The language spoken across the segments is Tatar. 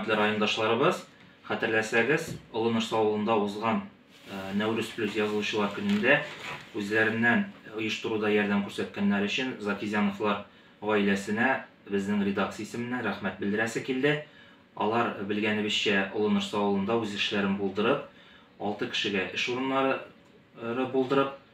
Хөрмәтле райондашларыбыз, хәтерләсәгез, Олыныш авылында узган э, Нәүрүз плюс язылучылар көнендә үзләреннән оештыруда ярдәм күрсәткәннәр өчен Закизяновлар гаиләсенә безнең редакция исеменнән рәхмәт белдерәсе килде. Алар белгәнебезчә Олыныш авылында үз эшләрен булдырып, 6 кешегә эш урыннары э, булдырып,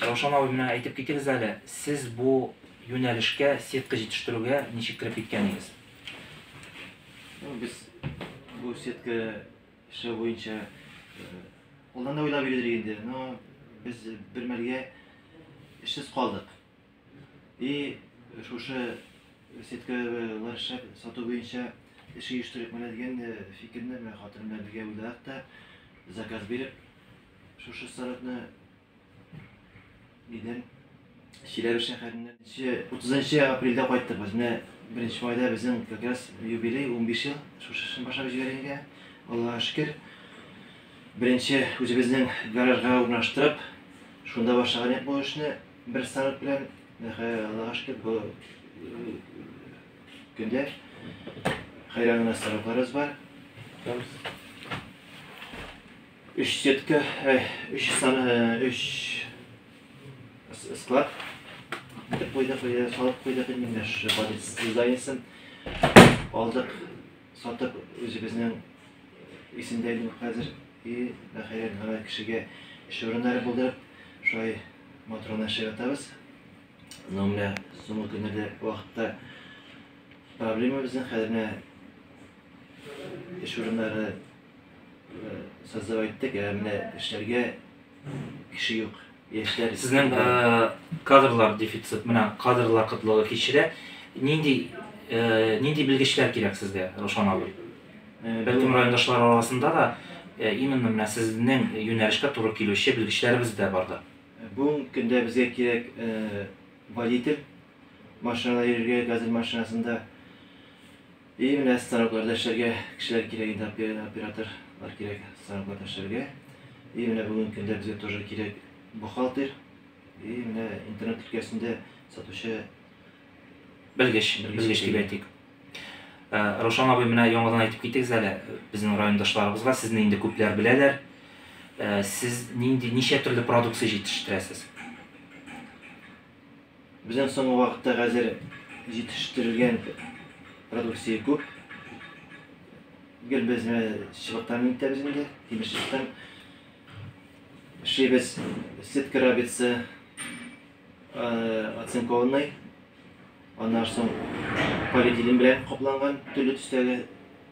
Раушан абый, менә әйтеп китегез әле, сез бу юнәлешкә, сетка җитештерүгә ничек кереп киткәнегез? Ну, без бу сетка эше буенча алдан да уйлап йөрдек инде, но без бер мәлгә эшсез калдык. И шушы сеткалар эшләп сату буенча эш оештырыйк менә дигән фикерне менә хатыным белән бергә уйладык та, заказ биреп, Шушы сорокны идем. Чиләбе шәһәреннән 30 апрельдә кайттык без. Менә 1 майда безнең как раз юбилей 15 ел шушы эшне башлап җибәргәнгә. Аллага шөкер. Беренче үзебезнең гаражга урнаштырып, шунда башлаган идек бу эшне бер сарык белән. Аллага шөкер, бу көндә хәйран гына сарыкларыбыз бар. Өч сетка, өч сан, өч склад итеп куйдык, салып куйдык инде менә шушы балец дизайнсын алдык, сатып үзебезнең исемдә инде хәзер и хәер гына кешегә эш урыннары булдырып, шулай матурына эшләп ятабыз. Но менә соңгы көннәрдә вакытта проблема безнең хәзер менә эш урыннары Сазлап әйттек, ә менә эшләргә кеше юк. Яшьләр Сезнең э, кадрлар дефицит, менә кадрлар кытлыгы кичерә. Нинди э, нинди белгечләр кирәк сезгә, Рушан абый? Э, Бәлкем райондашлар арасында да э, именно менә сезнең юнәлешкә туры килүче белгечләребез дә бардыр. Бүгенге көндә безгә кирәк э, водитель машинада йөрергә, газель машинасында. И менә станоклар да эшләргә кешеләр кирәк инде оператор лар кирәк станокларда эшләргә и менә бүгенге көндә безгә тоже кирәк бухгалтер и менә интернет өлкәсендә сатучы белгеч белгеч дип әйтик э, Рушан абый менә яңадан әйтеп китегез әле безнең райондашларыбызга сезне инде күпләр беләләр э, сез нинди ничә төрле продукция җитештерәсез Безнең соңгы вакытта хәзер җитештерелгән продукция күп. Гел без чыбыктан интәбез инде, тимер чыбыктан. Шибез сетка рабица оцинкованный. Аннан соң полиэтилен белән капланган төрле төстәге